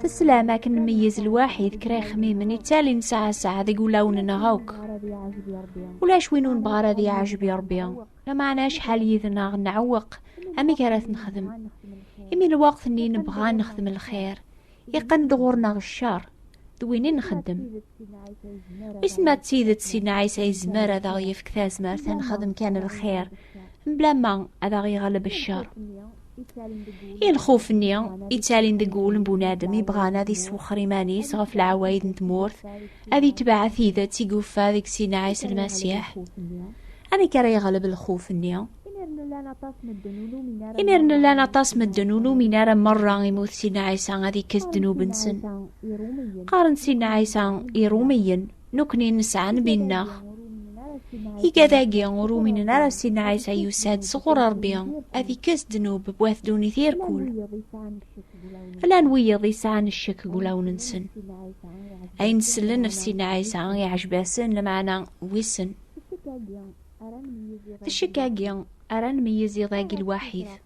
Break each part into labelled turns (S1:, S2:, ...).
S1: Teslam akken meyyez lwaḥid kra ixmimen ittali nesɛa sɛa deg ulawen-nneɣ akk. Ulac win ur nebɣa ara di ɛejbi Rebbi. Lameɛna acḥal yid-neɣ nɛewweq amek ara t-nexdem. Imi lweqt-nni nebɣa nexdem lxir, iqqen-d ɣur-neɣ ccer, d win i nxeddem. Wissen ma d tidet Sidna Ɛisa yezmer ad aɣ-yefk tazmert ad nexdem kan lxir, mebla ma ad aɣ-yeɣleb ccer. i lxuf-nni ittalin deg wul n bunadem yebɣan ad iswexxer iman-is ɣef leɛwayed n tmurt ad itbeɛ tidet i yuffa deg Sina Ɛisa Lmasiḥ amek ara yeɣleb lxuf-nni imir nlan aṭas medden ur numin ara merra imut Sina Ɛisa ad ikkes ddnub-nsen qqaren Sina Ɛisa irumiyen Nukni nesɛa nnbi-nneɣ. Igad-agi ur uminen ara s Sidna Ɛisa yusa-d sɣur Rebbi ad ikkes ddnub n wat ddunit irkul. Llan wiyiḍ yesɛan ccek deg wulawen-nsen. Ayen sellen ɣef Sidna Ɛisa iɛjeb-asen, lameɛna wissen. D ccek-agi ara nmeyyez iḍ-agi lwaḥid.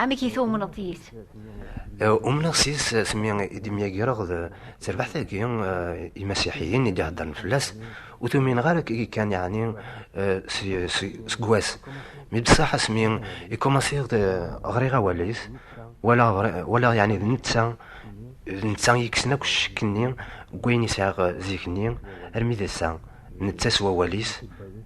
S1: Amek i tumneḍ yis? Umneɣ
S2: s yis s mi i d-myagreɣ d terbaḥt-agi imasiḥiyen i d-iheddren fell-as ur tumineɣ ara agi kan yeɛni seg wass mi bessaḥ asmi i kumaṣiɣ ɣriɣ awal-is walaɣ yeɛni d netta d netta i yekksen akk ccekk-nni n wayen i sɛiɣ zik-nni armi d ass-a netta s wawal-is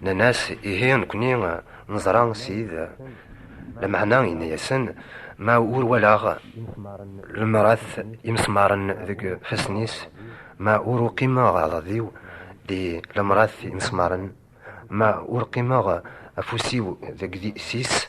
S2: Nnan-as, ihi nekni neẓra Ssid, lameɛna yenna-yasen, ma ur walaɣ lemrat imesmaren deg fassen-is, ma ur uqimeɣ aɛḍad-iw di lemrat imesmaren, ma ur qimeɣ afus-iw deg tis,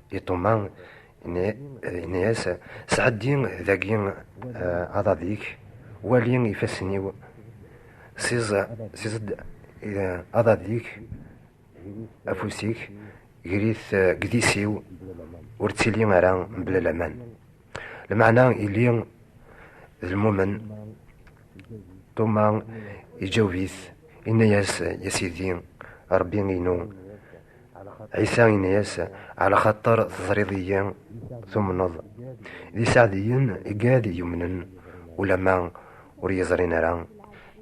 S2: I Tuma, yenna-yas, Sɛeddi dagi eh, aḍad-ik, wali ifassen-iw, siẓ-d eh, aḍad-ik, afus-ik, grit eh, gdis-iw, ur ttili ara mebla laman. Lmeɛna ili d lmumen, Tuma iǧaweb-it, inna-yas, Ya Sidi, Ṛebbi-inu. Ɛisa inna-yas, Ɛla xaṭer teẓriḍ-iyi, tumneḍ. D iseɛdiyen i gad yumnen, ulamma ur iyi-ẓrin ara.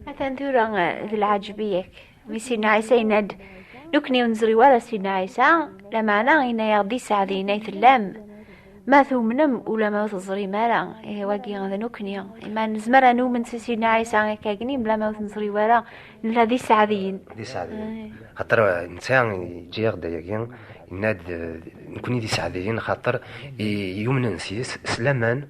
S2: Atan tura
S1: d lɛaǧeb i yakk Mi Sidna Ɛisa yenna-d, Nekkni ur nezri ara Sidna Ɛisa, lameɛna yenna-yaɣ-d i Sseɛd yenna i tellam, ma tumnem ula ma ur teẓrim ara, ihi wagi d nekkni. Ma nezmer ad numen si Sidna Ɛisa akka agni, mla ma ur t-neẓri ara, nella d iseɛdiyen. D iseɛdiyen.
S2: Xaṭer netta yeǧǧa-yaɣ-d ayagi, yenna-d nekkni d iseɛdiyen xaṭer yumnen sys s laman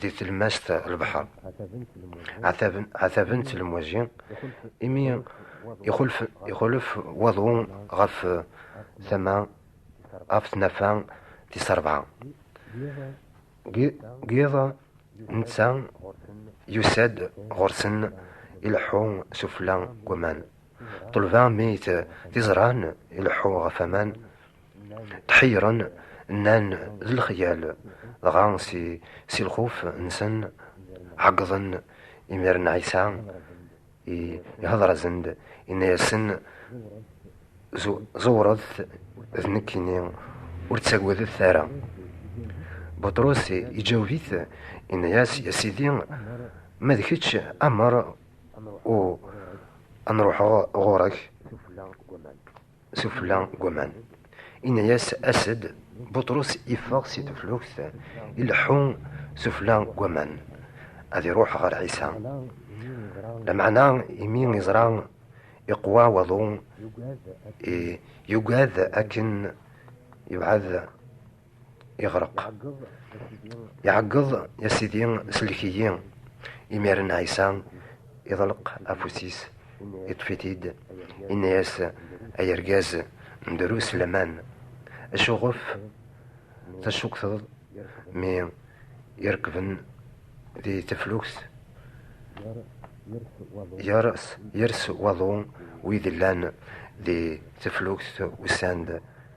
S2: di telmast lbeḥr ɛataben telmwaji imi ixulef waḍu ɣef tama ɣef tnafa tis rebɛa giḍ netta yusa-d ɣur-sen ileḥḥu sufla n waman ṭelba mi t-iẓran ileḥḥu ɣef aman Tḥeyyren, nnan d lexyal, dɣa si, si lxuf nsen ɛeggḍen, imiren Ɛisa ihedṛ-asen-d, inna-yasen, Ẓewṛet d nekkini, ur ttagadet ara. Buṭrus iǧaweb-it, inna-yas, Ya Sidi, ma d kečč, amer u ad nṛuḥeɣ ɣuṛ-ek. sufella n waman. Inna-yas as-d, Buṭrus iffeɣ si teflukt, ileḥḥu sufella n waman, ad iruḥ ɣer Ɛisa. Lameɛna imi iẓra iqwa waḍu, yugad akken yebɛed Iɣreq. Iɛeggeḍ, ya Sidi, sellek-iyi. Imiren Ɛisa iḍleq afus-is, iṭṭef-it-id, inna-yas, Ay argaz, ndru s laman. Acuɣef tacukteḍ mi irekben di teflukt yers waḍu wid llan di teflukt usan-d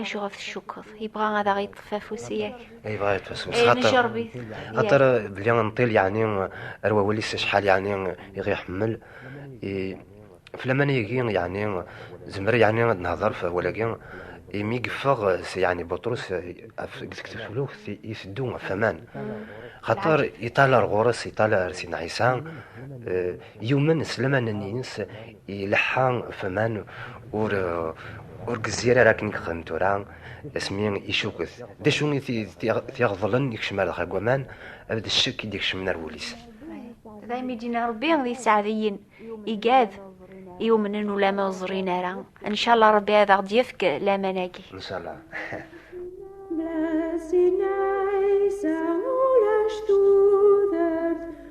S1: Acuɣef tcukkeḍ? Yebɣa ad aɣ-yeṭṭef afus yak. Yebɣa ad yeṭṭef afus.
S2: Nejrerbit.
S1: Aṭer
S2: belli nṭil yeɛni ar wawal-is acḥal yeɛni iɣ iḥemmel. Flaman-agi yeɛni zemmer yeɛni ad nehder f awal-agi. Imi yeffeɣ yeɛni Buṭrus deg teflukt iteddu ɣef aman. Xaṭer yeṭṭal ar ɣur-s, yeṭṭal ar Sidna Ɛisa. Yumen s laman-nnes ileḥḥa faman ur ur gezzir ara akken yexdem tura asmi icuket d acu i t-iɣeḍlen ikcem ar dexra n waman ad d ccek i d-ikecmen ar wul-is daymi
S1: d-yenna Rebbi d iseɛdiyen igad iwumnen ulama ur ẓrin ara ncalla Rebbi ad aɣ-d-yefk laman-agi ncalla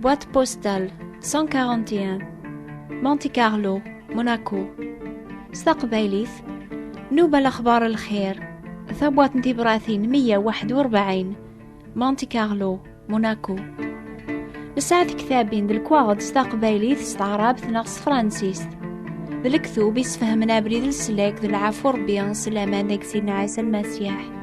S1: Boîte postale 141 Monte Carlo, Monaco. S taqbaylit, Nuba l-axbar l-xir, tabwat n tibratin 141, Monte Carlo, Monaco. Nesɛa tektabin d lekwaɣeḍ s taqbaylit, s taɛrabt neɣ s tefransist. D lektub isfehmen abrid n leslak d lɛafu Rebbi, s laman deg Sidna Ɛisa Lmasiḥ.